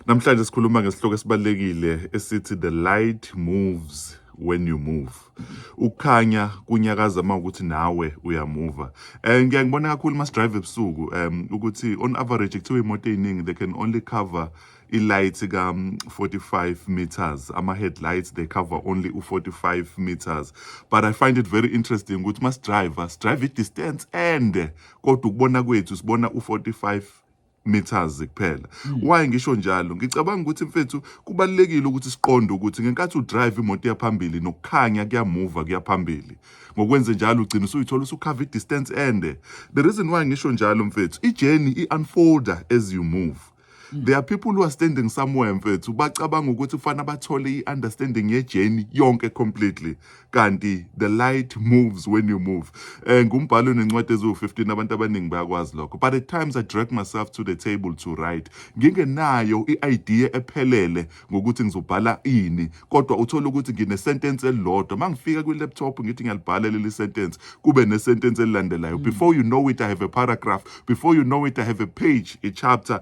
Namhlanje sikhuluma ngesihloko esibalulekile esithi the light moves when you move ukukhanya kunyakaza uma ukuthi nawe uyamuva um ngiya ngibona kakhulu uma sidrive ebusuku um ukuthi on average kuthiwa imoto ey'ningi they can only cover i-light ka-45 meters ama-headlights they cover only u-45 meters but i find it very interesting ukuthi uma sidrive sidrive i-distance ende kodwa ukubona kwethu sibona u-45 meters kuphela hmm. why ngisho njalo ngicabanga ukuthi mfethu kubalekile ukuthi siqonde ukuthi ngenkathi udrive imoto yaphambili nokukhanya kuyamuva kuyaphambili ngokwenze njalo ugcina usuyithola usukhava i-distance ende the reason why ngisho njalo mfethu i-journey i-unfolder as you move hmm. there are people who are standing somewhere mfethu bacabanga ukuthi kufanele bathole i-understanding ye-journey yonke completely kanti the light moves when you move um ngumbhalo onencwadi eziwu-15 abantu abaningi bayakwazi lokho but at times i drag myself to the table to write ngingenayo i-idea ephelele ngokuthi ngizobhala ini kodwa uthole ukuthi nginesentence elilodwa uma ngifika kwi-laptop ngithi ngiyalibhala leli sentence kube nesentence elilandelayo mm. before you know it i have a paragraph before you know it i have a page a chapter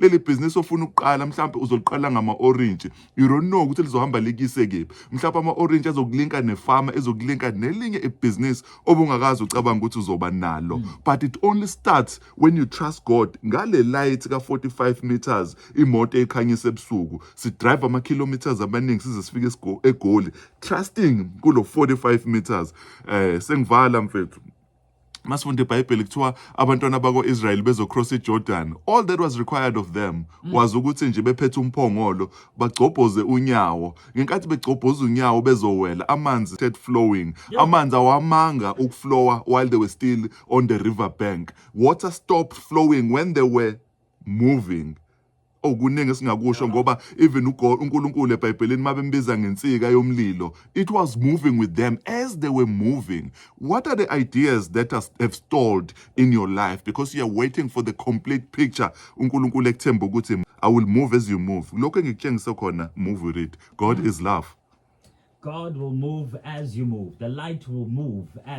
leli bhizinisi ofuna ukuqala mhlawumbe uzoliqala ngama-orintshi you don't know ukuthi lizohamba likise kephi mhlawumbe ama-orintshi azokulinka nefama ezokulinka nelinye ibhizinisi obungakazi ucabanga ukuthi uzoba nalo hmm. but it only starts when you trust god ngale light ka-45 meters imoto ekhanyisa ebusuku sidrive ama-kilometers amaningi size sifike egoli trusting kulo 45 meters um sengivala mfethu masifunda ibhayibheli kuthiwa abantwana bako-israyeli bezocross ijordan all that was required of them mm. was ukuthi nje bephethe umphongolo bagcobhoze unyawo ngenkathi begcobhoza unyawo bezowela amanzi started flowing yeah. amanzi awamanga ukuflowa while they were still on the river bank water stopped flowing when they were moving okuningi esingakusho ngoba even uGod uNkulunkulu eBhayibhelini mabembiza ngensika yomlilo it was moving with them as they were moving what are the ideas that are, have stalled in your life because you are waiting for the complete picture uNkulunkulu ekuthemba ukuthi I will move as you move lokho engikutshengise khona move with it God is love God will move as you move the light will move as